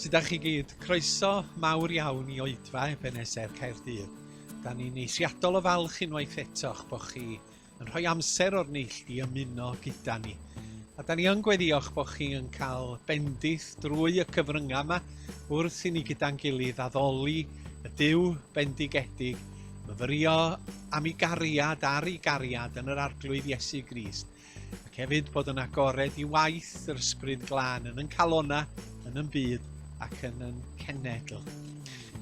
Sut da chi gyd? Croeso mawr iawn i oedfa Ebenezer Caerdydd. Da ni'n eithriadol o falch unwaith eto'ch bod chi yn rhoi amser o'r neilltu i ymuno gyda ni. A da ni yn gweddioch bod chi yn cael bendith drwy y cyfryngau yma wrth i ni gyda'n gilydd addoli y Dyw bendigedig, myfyrio am ei gariad ar ei gariad yn yr Arglwydd Iesu Grist, ac hefyd bod yn agored i waith yr Ysbryd Glân yn yn calona, yn yn byd ac yn yn cenedl.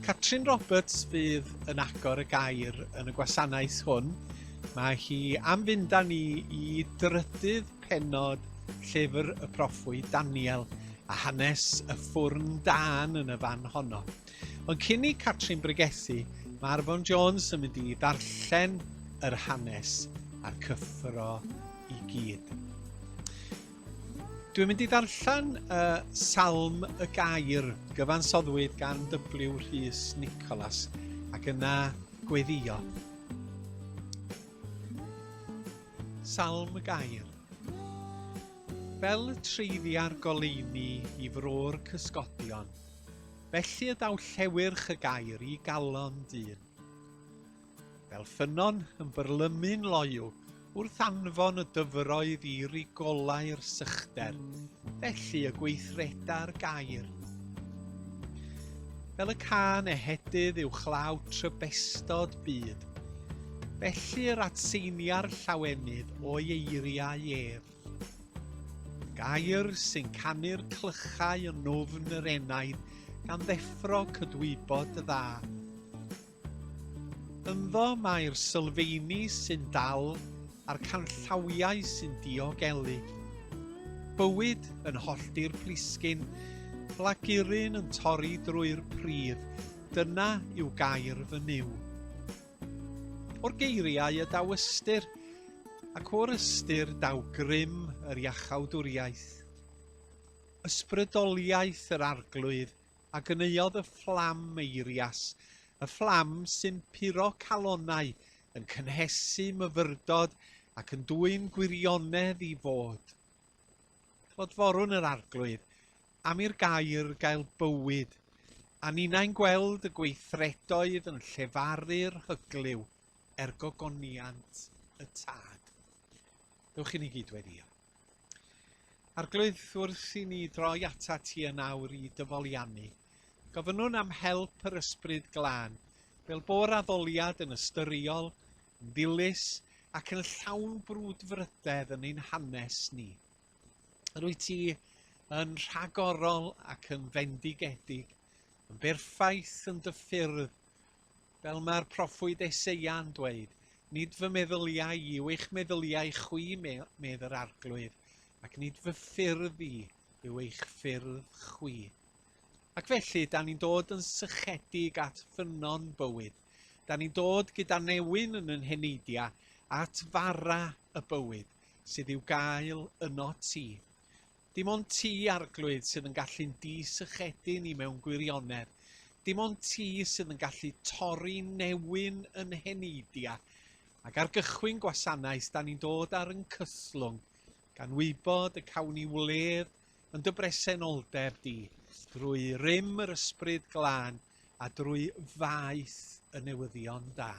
Catrin Roberts fydd yn agor y gair yn y gwasanaeth hwn Mae hi am fynd â ni i drydydd pennod llyfr y proffwyd Daniel a hanes y ffwrn dân yn y fan honno. Ond cyn i Catrin bregethu, mae Arfon Jones yn mynd i ddarllen yr hanes a'r cyffro i gyd. Dwi'n mynd i ddarllen uh, Salm y Gair, gyfansoddwyd gan W. Rhys Nicholas, ac yna gweddio. Salm Gair Fel y treiddia'r goleuni i fro'r cysgodion, felly y daw llewyrch y gair i galon dyn. Fel ffynnon yn byrlymu'n loyw, Wrth anfon y dyfroedd i rigolau'r sychder, felly y gweithreda'r gair. Fel y cân ehedydd uwchlaw trybestod byd, felly yr adseinia'r llawenydd o'i eiriau ef. Gair sy'n canu'r clychau yn nofn yr enaid gan ddeffro cydwybod y dda. Ynddo mae'r sylfeini sy'n dal a'r canllawiau sy'n diogelu. Bywyd yn hollti'r plisgyn, blaguryn yn torri drwy'r pridd, dyna yw gair fy Nuw. O'r geiriau y daw ystyr, ac o'r ystyr daw grym yr iachawdwriaeth. Ysbrydoliaeth yr arglwydd a ganeuodd y fflam eirias, y fflam sy'n puro calonnau, yn cynhesu myfyrdod ac yn dwyn gwirionedd i fod. Clodforwn yr Arglwydd, am i'r gair gael bywyd, a ninnau'n gweld y gweithredoedd yn llefaru'r hyglyw er gogoniant y tad. Dewch i ni gyd weddio. Arglwydd, wrth i ni droi atat ti yn awr i dyfoliannu, gofynnwn am help yr Ysbryd Glân, fel bo'r addoliad yn ystyriol, yn ddilys, ac yn llawn brwdfrydedd yn ein hanes ni. Yr wyt ti yn rhagorol ac yn fendigedig, yn berffaith yn dy ffyrdd, Fel mae'r proffwyd Eseia'n dweud, Nid fy meddyliau i yw eich meddyliau chwi, medd yr Arglwydd, ac nid fy ffyrdd i yw eich ffyrdd chwi. Ac felly, da ni'n dod yn sychedig at ffynnon bywyd. Da ni'n dod gyda newyn yn yn heneidia at fara y bywyd sydd i'w gael yno ti. Dim ond ti, Arglwydd, sydd yn gallu'n di-sychedu ni mewn gwirionedd. Dim ond ti sydd yn gallu torri newyn yn heneidia. Ac ar gychwyn gwasanaeth, da ni'n dod ar yn cythlwng, gan wybod y cawn ni wledd yn dy bresenoldeb di, drwy rym yr Ysbryd Glân a drwy faeth y newyddion da.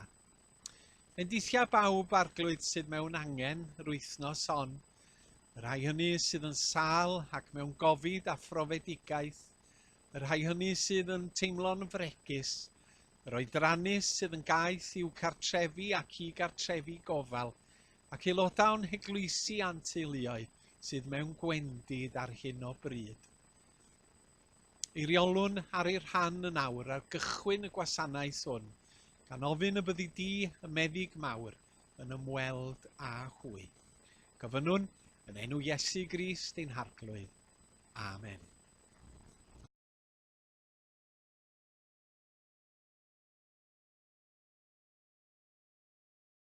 Bendithia bawb arglwydd sydd mewn angen yr wythnos hon, y rhai hynny sydd yn sal ac mewn gofid a phrofedigaeth, y rhai hynny sydd yn teimlo'n fregus, yr oedrannus sydd yn gaeth i'w cartrefi ac i gartrefi gofal, ac aelodau o'n heglwysi a'n teuluoedd sydd mewn gwendid ar hyn o bryd. Eiriolwn ar ei rhan yn awr ar gychwyn y gwasanaeth hwn, gan ofyn y byddi di, y Meddyg Mawr, yn ymweld â hwy. Gofynnwn, yn enw Iesu Grist ein Harglwydd. Amen.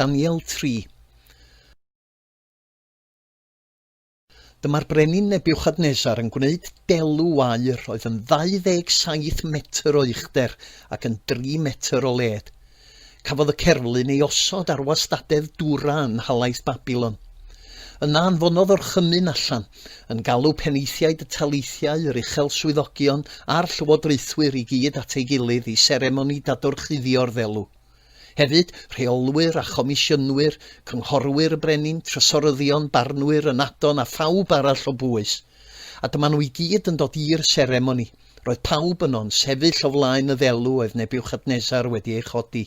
Daniel 3. Dyma'r brenin Nebiwchadnesar yn gwneud delw aur oedd yn 27 metr o uchder ac yn 3 metr o led. Cafodd y cerflun ei osod ar wastadedd Dura yn nhalaith Babilon. Yna anfonodd orchymyn allan yn galw penaethiaid y taleithiau, yr uchel swyddogion a'r llywodraethwyr i gyd at ei gilydd i seremoni dadorchuddio'r ddelw. Hefyd, rheolwyr a chomisiynwyr, cynghorwyr y brenin, trysoryddion, barnwyr, ynadon a phawb arall o bwys. A dyma nhw i gyd yn dod i'r seremoni. Roedd pawb yno'n sefyll o flaen y ddelw oedd Nebiwchadnesar wedi ei chodi.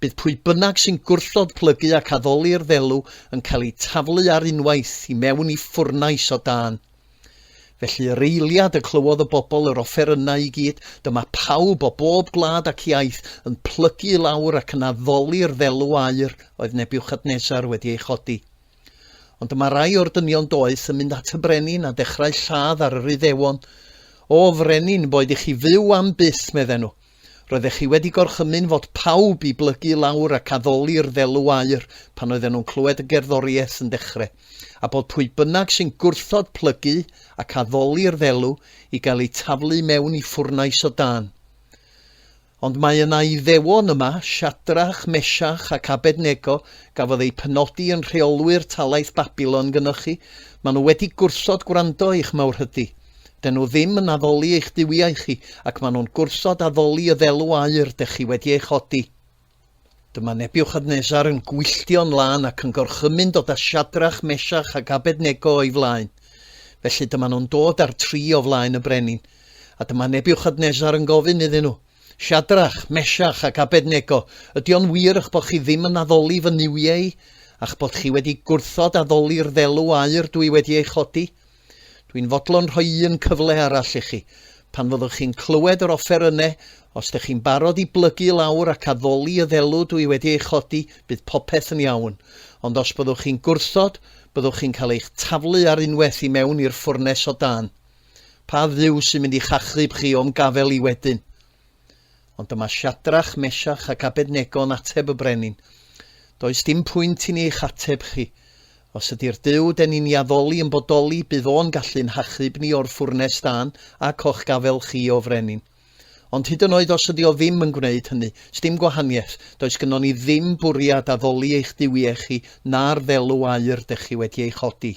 Bydd pwy bynnag sy'n gwrthod plygu ac addoli'r ddelw yn cael eu taflu ar unwaith i mewn i ffwrnais o dân. Felly yr eiliad y clywodd y bobl yr offerynnau i gyd, dyma pawb o bob gwlad ac iaith yn plygu i lawr ac yn addoli'r ddelw aur oedd Nebiwchadnesar wedi ei chodi. Ond dyma rai o'r dynion doeth yn mynd at y brenin a dechrau lladd ar yr Iddewon. O, frenin, boed i chi fyw am byth, medden nhw. Roeddech chi wedi gorchymyn fod pawb i blygu lawr ac addoli'r ddelw aur pan oedden nhw'n clywed y gerddoriaeth yn dechre, a bod pwy bynnag sy'n gwrthod plygu ac addoli'r ddelw i gael eu taflu mewn i ffwrnais o dân. Ond mae yna Iddewon yma, Siadrach, Mesiach ac Abednego, gafodd eu penodi yn rheolwyr talaith Babilon gynnoch chi, maen nhw wedi gwrthod gwrando i'ch mawrhydi. 'Dyn nhw ddim yn addoli eich duwiau chi, ac maen nhw'n gwrthod addoli y ddelw aur dych chi wedi ei chodi. Dyma Nebiwchadnesar yn gwylltio'n lân ac yn gorchymyn dod â Siadrach, Mesiach ac Abednego o'i flaen. Felly dyma nhw'n dod â'r tri o flaen y brenin. A dyma Nebiwchadnesar yn gofyn iddyn nhw, Siadrach, Mesiach ac Abednego, ydy o'n wir eich bod chi ddim yn addoli fy nuwiau i, a'ch bod chi wedi gwrthod addoli'r ddelw aur dwi wedi ei chodi? Dwi'n fodlon rhoi un cyfle arall i chi, pan fyddwch chi'n clywed yr offerynne, os dych chi'n barod i blygu lawr ac addoli y ddelw dw i wedi ei chodi, bydd popeth yn iawn. Ond os byddwch chi'n gwrthod, byddwch chi'n cael eich taflu ar unwaith i mewn i'r ffwrnes o dân. Pa Dduw sy'n mynd i'ch achub chi o'm gafel i wedyn? Ond dyma Siadrach, Mesiach ac Abednego'n ateb y brenin, Does dim pwynt i ni eich ateb chi. Os ydy'r Duw 'den ni'n 'i addoli yn bodoli, bydd O'n gallu'n hachub ni o'r ffwrnes dân ac o'ch gafael chi, O frenin. Ond hyd yn oed os ydy O ddim yn gwneud hynny, 'sdim gwahaniaeth, does gynnon ni ddim bwriad addoli eich duwiau chi na'r ddelw aur 'dych chi wedi ei chodi.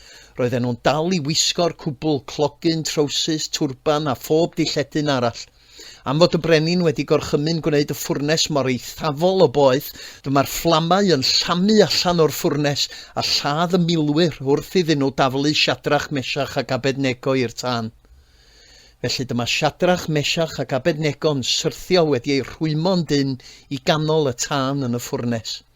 Roedden nhw'n dal i wisgo'r cwbl, clogyn, trowsus, twrban a phob dilledyn arall. Am fod y brenin wedi gorchymyn gwneud y ffwrnes mor eithafol o boeth, dyma'r fflamau yn llamu allan o'r ffwrnes a lladd y milwyr wrth iddyn nhw daflu Siadrach, Mesiach ac Abednego i'r tân. Felly dyma Siadrach, Mesiach ac Abednego'n syrthio wedi eu rhwymo'n dynn i ganol y tân yn y ffwrnes.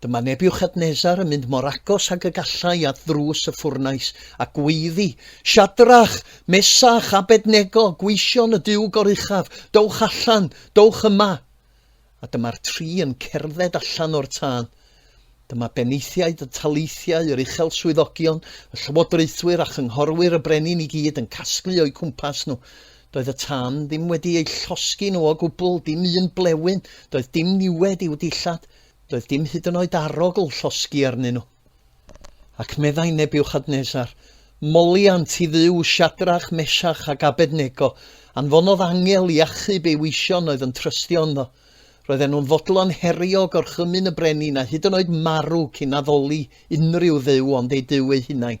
Dyma Nebiwchadnesar yn mynd mor agos ag y gallai at ddrws y ffwrnais, a gweiddi, Siadrach, Mesach, Abednego, gweision y Duw Goruchaf, dowch allan, dowch yma! A dyma'r tri yn cerdded allan o'r tân. Dyma benaethiaid y taleithiau, yr uchel swyddogion, y llywodraethwyr a chynghorwyr y brenin i gyd yn casglu o'u cwmpas nhw. Doedd y tân ddim wedi eu llosgi nhw o gwbl, dim un blewyn, doedd dim niwed i'w dillad, doedd dim hyd yn oed arogl llosgi arnyn nhw. Ac meddai Nebiwchadnesar, Moliant i Dduw Siadrach, Mesach ac Abednego, anfonodd angel i achub ei weision oedd yn trystio ynddo. Roedden nhw'n fodlon herio gorchymyn y brenin a hyd yn oed marw cyn addoli unrhyw dduw ond eu duw eu hunain.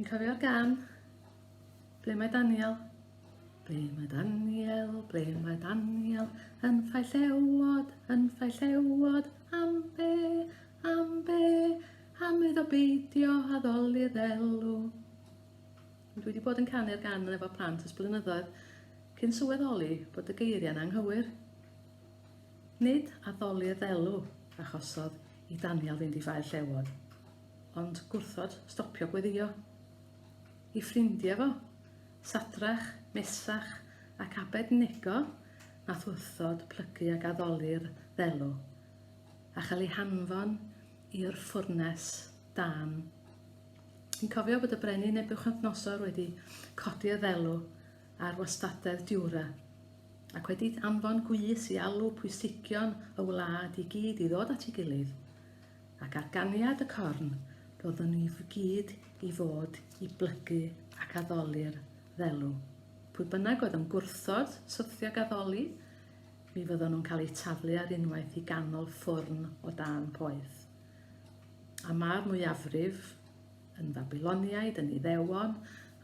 Chi'n cofio'r gan? Ble mae Daniel? Ble mae Daniel? Ble mae Daniel? Yn ffai llewod, yn ffai llewod, am be, am be, am iddo beidio addoli ddelw. Dwi wedi bod yn canu'r gan yn efo plant ys blynyddoedd cyn sylweddoli bod y geiriau'n anghywir. Nid addoliad elw achosodd i Daniel fynd i Fae Llewod, ond gwrthod stopio gweddïo. Ei ffrindiau fo, Sadrach, Mesach ac Abednego, wnaeth wrthod plygu ag addoli'r ddelw, a chael eu hanfon i'r ffwrnes dân. Yn cofio bod y brenin Nebuchadnezzar wedi codi y ddelw ar wastadedd Diwra, ac wedi anfon gwis i alw pwysigion y wlad i gyd i ddod at ei gilydd, ac ar ganiad y corn, roeddwn ni gyd i fod i blygu ac addoli'r ddelw. Pwy bynnag oedd yn gwrthod syrthiog addoli, mi fyddon nhw'n cael eu taflu ar unwaith i ganol ffwrn o dan poeth. A mae'r mwyafrif yn Fabiloniaid, yn Iddewon,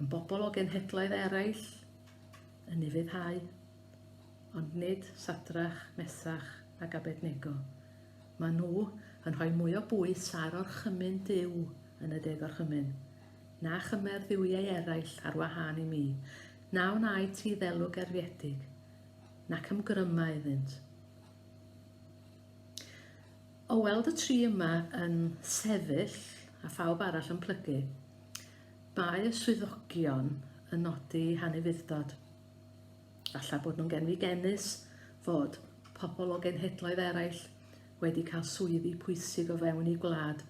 yn bobl o genhedloedd eraill, yn ufuddhau, ond nid Sadrach, Mesach ac Abednego. Maen nhw yn rhoi mwy o bwys ar orchymyn Duw yn y De Gorchymyn, na chymer dduwiau eraill ar wahân i mi, na wnaed ti ddelw gerfiedig, nac ymgryma iddynt. O weld y tri yma yn sefyll a phawb arall yn plygu, Mae y swyddogion yn nodi hanufudd-dod, falle bod nhw'n genfigennus, fod pobl o genhedloedd eraill wedi cael swyddi pwysig o fewn eu gwlad,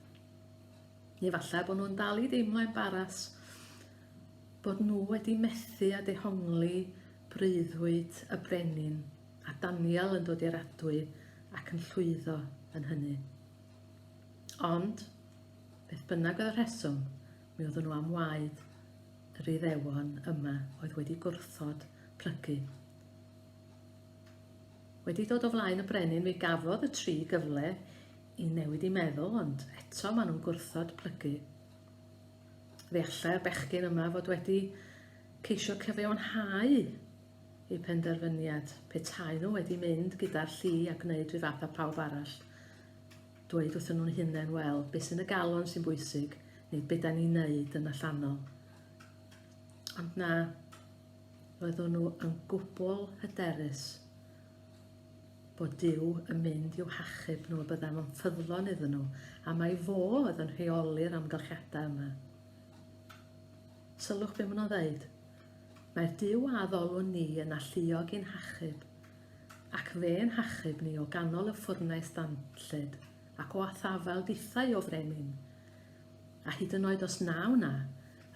neu falle bod nhw'n dal i deimlo embaras bod nhw wedi methu a dehongli breuddwyd y brenin, a Daniel yn dod i'r adwy ac yn llwyddo yn hynny. Ond, Beth bynnag oedd y rheswm, mi oeddwn nhw am waed yr Iddewon yma oedd wedi gwrthod plygu. Wedi dod o flaen y brenin mi gafodd y tri gyfle i newid i meddwl, ond eto maen nhw'n gwrthod plygu. Fe allai'r bechgyn yma fod wedi ceisio cyfiawnhau eu penderfyniad, petai nhw wedi mynd gyda'r llu a gwneud rhyw fath â phawb arall. dweud wrthyn nhw'n hunain, wel, beth sy'n y galon sy'n bwysig, neu beth da ni'n neud yn allanol. Ond na, roeddwn nhw yn gwbl hyderus bod Dyw yn mynd i'w hachub nhw a byddai fo'n ffyddlon iddyn nhw, a mae fo oedd yn rheoli'r amgylchiadau yma. Sylwch beth maen nhw'n dweud. Mae'r Dyw a addolwn ni yn alluog i'n hachub, Ac fe yn hachub ni o ganol y ffwrnais ddanllyd, ac o athafael dithau o frenin. A hyd yn oed os na wna,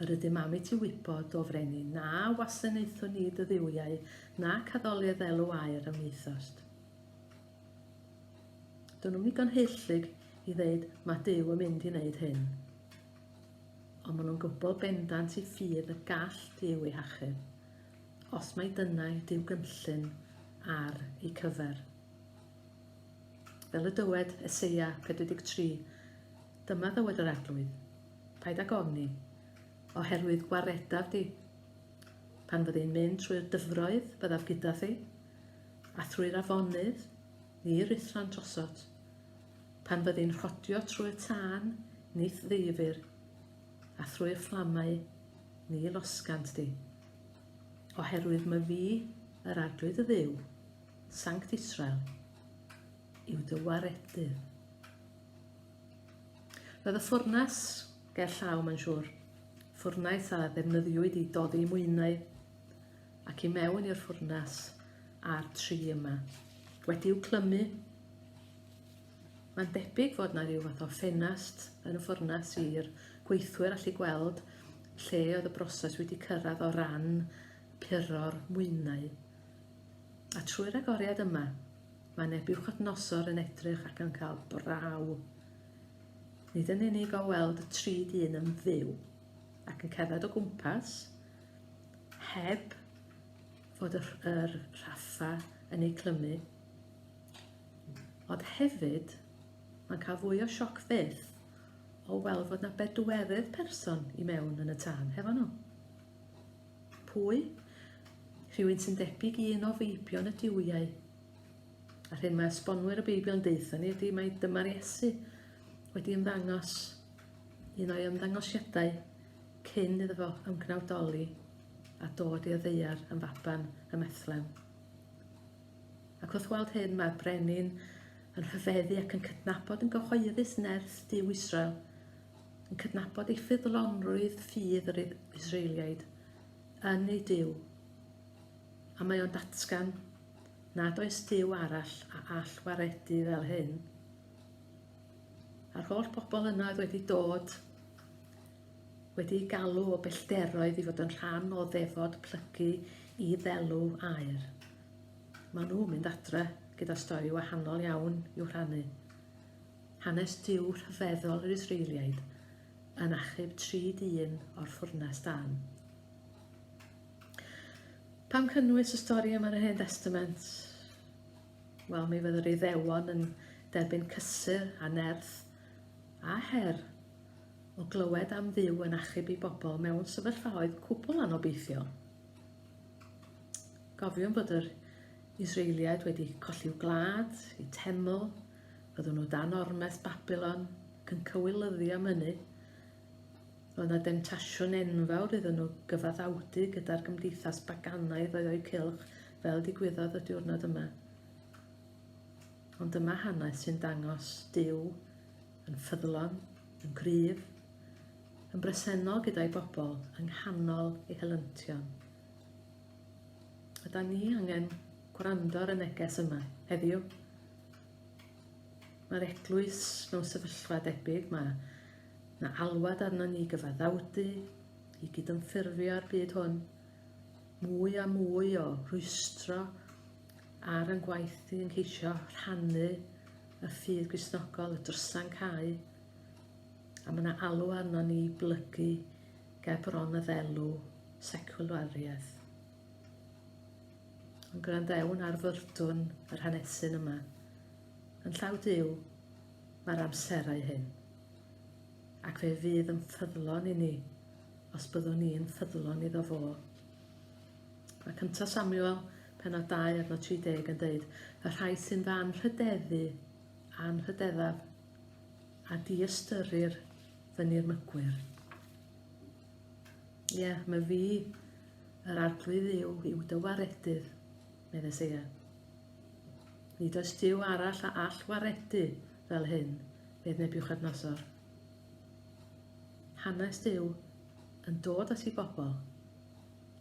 yr ydym am i ti wybod, o frenin, na wasanaethwn ni dy dduwiau, nac addoliad elw aer a wnaethost. Dyn nhw'n ddigon heillyg i ddeud, mae Dyw yn mynd i wneud hyn. Ond maen nhw'n gwybod bendant i ffydd y gall Dyw ei hachub. Os mai dyna ydyw gynllun ar eu cyfer. Fel y dywed Eseia 43, Dyma ddywed yr Arglwydd, paid ag ofni, oherwydd gwaredaf di. Pan fyddi'n mynd trwy'r dyfroedd, byddaf gyda thi, a thrwy'r afonydd, ni rithran drosod. Pan fyddi'n rhodio trwy'r tân, nith ddeifir, a thrwy'r fflamau, ni losgant di. Oherwydd my fi, yr Arglwydd y Dduw, Sanct Israel, yw dy waredydd. Roedd y ffwrnas ger llaw, mae'n siŵr. Ffwrnaeth a ddefnyddiwyd i doddi mwynau ac i mewn i'r ffwrnas a'r tri yma. Wedi'w clymu, Mae'n debyg fod yna ryw fath o ffenast yn y ffwrnas i'r gweithwyr allu gweld lle oedd y broses wedi cyrraedd o ran puro'r mwynau. A trwy'r agoriad yma, mae neb i'w chydnosor yn edrych ac yn cael braw. Nid yn unig o weld y tri dyn yn fyw ac yn cerdded o gwmpas, heb fod yr, yr rhaffa yn ei clymu, Ond hefyd, mae'n cael fwy o sioc fyth o weld fod na bedwerydd person i mewn yn y tân hefo nhw. Pwy? Rhywun sy'n debyg i un o feibion y diwyau. A'r hyn mae esbonwyr y Beibl yn deutha ni ydy mae dyma'r Iesu wedi ymddangos un o'i ymddangosiadau cyn iddo fo ymgnawdoli a dod i'r ddeiar yn faban y methlem. Ac wrth weld hyn, mae'r brenin yn rhyfeddu ac yn cydnabod yn gyhoeddus nerth Duw Israel, yn cydnabod ei ffyddlonrwydd ffydd yr Israeliaid yn ei Duw. A mae o'n datgan nad oes Duw arall a all waredu fel hyn. A'r holl bobl yna oedd wedi dod wedi ei galw o bellderoedd i fod yn rhan o ddefod plygu i ddelw aer. Maen nhw'n mynd adre gyda stori wahanol iawn i'w rhannu. Hanes Duw rhyfeddol yr Israeliaid yn achub tri dyn o'r ffwrnes dan. Pam cynnwys y stori yma yn y Hen Testament? Wel, mi fydder ei ddewon yn derbyn cysur a nerth a her o glywed am ddiw yn achub i bobl mewn sefyllfaoedd cwbl anobeithiol. Gofiwn bod yr Israeliaid wedi colli'w gwlad, eu teml, byddwn nhw dan ormes Babylon, ac yn cywilyddio am hynny. Roedd yna demtasiwn enfawr iddyn nhw gyfaddawdu gyda'r gymdeithas baganaidd oedd o'u cylch, fel digwyddodd y diwrnod yma. Ond dyma hanes sy'n dangos Dyw yn ffyddlon, yn gryf, yn bresennol gyda'i bobl yng nghanol ei helyntion. Yda ni angen gwrando ar y neges yma heddiw. Mae'r eglwys mewn sefyllfa debyg, mae na alwad arno ni gyfaddawdu, i gydymffurfio â'r byd hwn, mwy a mwy o rwystro ar yn gwaith i yn ceisio rhannu y ffydd gwisnogol, y drysan cae, a mae 'na alw arnon ni i blygu ger bron y ddelw secwlariaeth. Ond gwrandewn ar fyrdwn yr hanesyn yma. Yn llaw Duw, mae'r amserau hyn. Ac fe fydd yn ffyddlon i ni, os byddwn ni'n ffyddlon iddo fo. Mae cynta Samuel, penod 2 adno 30 yn dweud, y rhai sy'n fy anrhydeddu, anrhydeddaf, a diystyrir fy nirmygwyr. Ie, yeah, mae fi yr arglwydd yw i'w dywaredydd, meddai Seia. Nid oes diw arall a all waredu fel hyn, medd Nebiwchadnasor. Hanes diw yn dod at ei bobl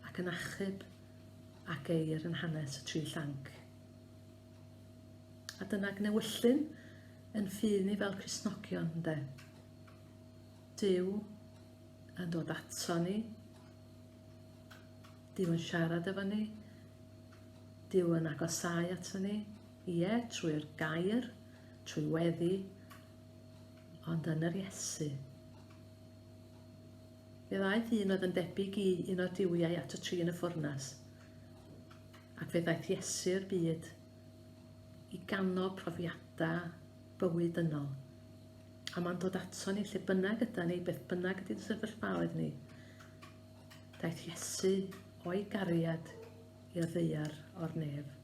ac yn achub ac eir yn hanes y tri llanc. A dyna gnewyllyn yn ffydd ni fel Cristnogion, ynde? Dyw yn dod ato ni, Dyw yn siarad efo ni, Dyw yn agosau ato ni, ie, trwy'r gair, trwy weddi, ond yn yr Iesu. Fe ddaeth un oedd yn debyg i un o'r diwiau at y tri yn y ffwrnas, Ac fe ddaeth Iesu i'r byd i ganol profiadau bywyd dynol. A mae'n dod ato ni lle bynnag yda ni, beth bynnag ydy'n sefyllfaoedd ni. Daeth Iesu o'i gariad i ddeiar o'r nef.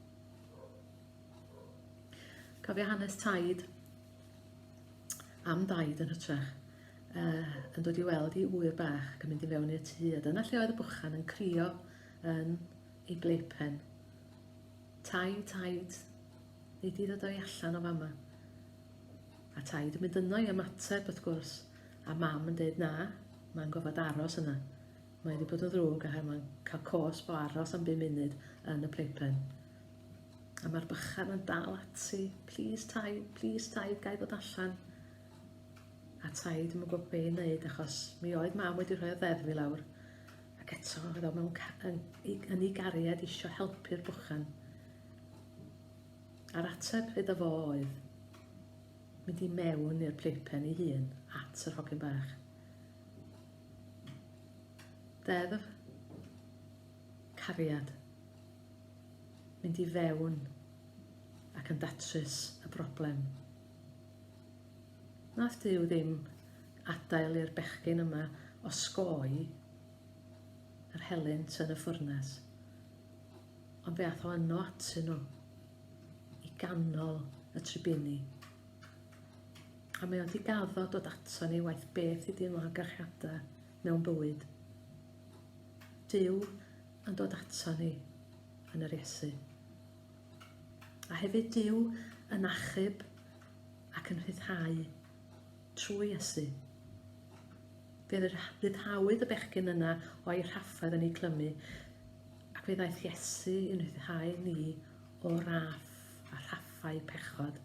Cofio hanes taid am daid yn hytrach uh, yn dod i weld i ŵyr bach ac yn mynd i fewn i'r tŷ a dyna lle oedd y bwchan yn crio yn ei blaypen. Taid, taid, neu di ddod o'i allan o fama. A taid yn mynd yno i ymateb, wrth gwrs, a mam yn dweud na, mae'n gofod aros yna. Mae wedi bod yn ddrwg a mae'n cael cos bo aros am 5 munud yn y playpen. A mae'r bychan yn dal ati, please taid, please taid, gai bod allan. A taid yn gwybod be i wneud achos mi oedd mam wedi rhoi o ddeddf i lawr Ac eto, oedd o mewn yn, yn ei gariad eisiau helpu'r bwchan. A'r ateb iddo fo oedd mynd i mewn i'r playpen ei hun at yr hogyn bach. Deddf cariad mynd i fewn ac yn datrys y broblem. Nath Duw ddim adael i'r bechgyn yma osgoi yr helynt yn y ffwrnes, ond fe ath o yno atyn nhw i ganol y tribini. A mae o'n digaddo dod ato ni waith beth i dîm o amgylchiadau mewn bywyd. Dyw yn dod ato ni yn yr Iesu. A hefyd Duw yn achub ac yn rhyddhau trwy Iesu. Fe ryddhawyd y bechgyn yna o'i rhaffaid yn ei clymu, ac fe ddaeth Iesu yn rhyddhau ni o raff a rhaffau pechod.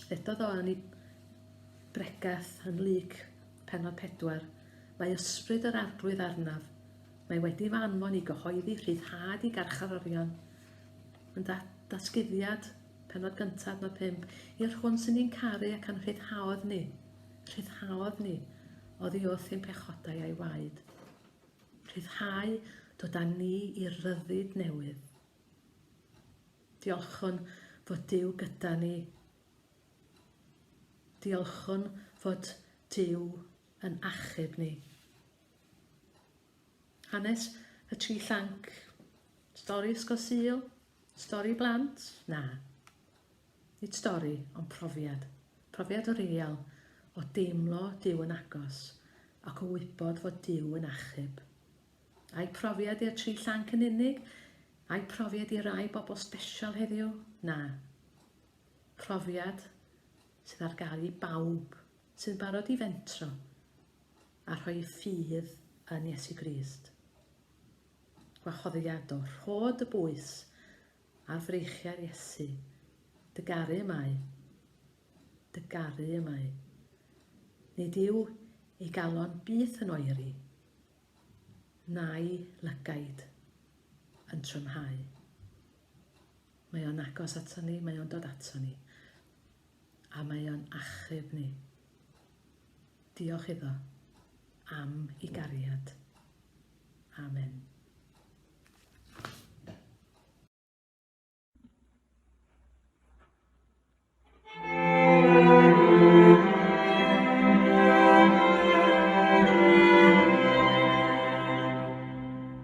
Eto ddo yn ei bregeth yn lyc penod pedwar, mae ysbryd yr arglwydd arnaf, Mae wedi fy anfon i gyhoeddi rhyddhad i garcharorion. Yn da, datguddiad, penod gyntaf, nod pump, i'r hwn sy'n ni'n caru ac a'n rhyddhaodd ni, rhyddhaodd ni, oddi wrth ein pechodau a'i waed. Rhyddhau dod â ni i ryddid newydd. Diolchwn fod Dyw gyda ni. Diolchwn fod Dyw yn achub ni. Hanes y tri llanc. Stori ysgol sil. Stori blant. Na. Nid stori, ond profiad. Profiad o real, o deimlo Dyw yn agos, ac o wybod fod Dyw yn achub. Ai profiad i'r tri llanc yn unig? Ai profiad i rai bobl special heddiw? Na. Profiad sydd ar gael i bawb sy'n barod i fentro a rhoi ffydd yn Iesu Grist. Gwahoddiado, rho dy bwys ar freichiau'r Iesu. Dy garu y mae. Dy garu y mae. Nid yw ei galon byth yn oeri, na'i lygaid yn trymhau. Mae o'n agos ato ni, mae o'n dod ato ni, a mae o'n achub ni. Diolch iddo am ei gariad. Amen.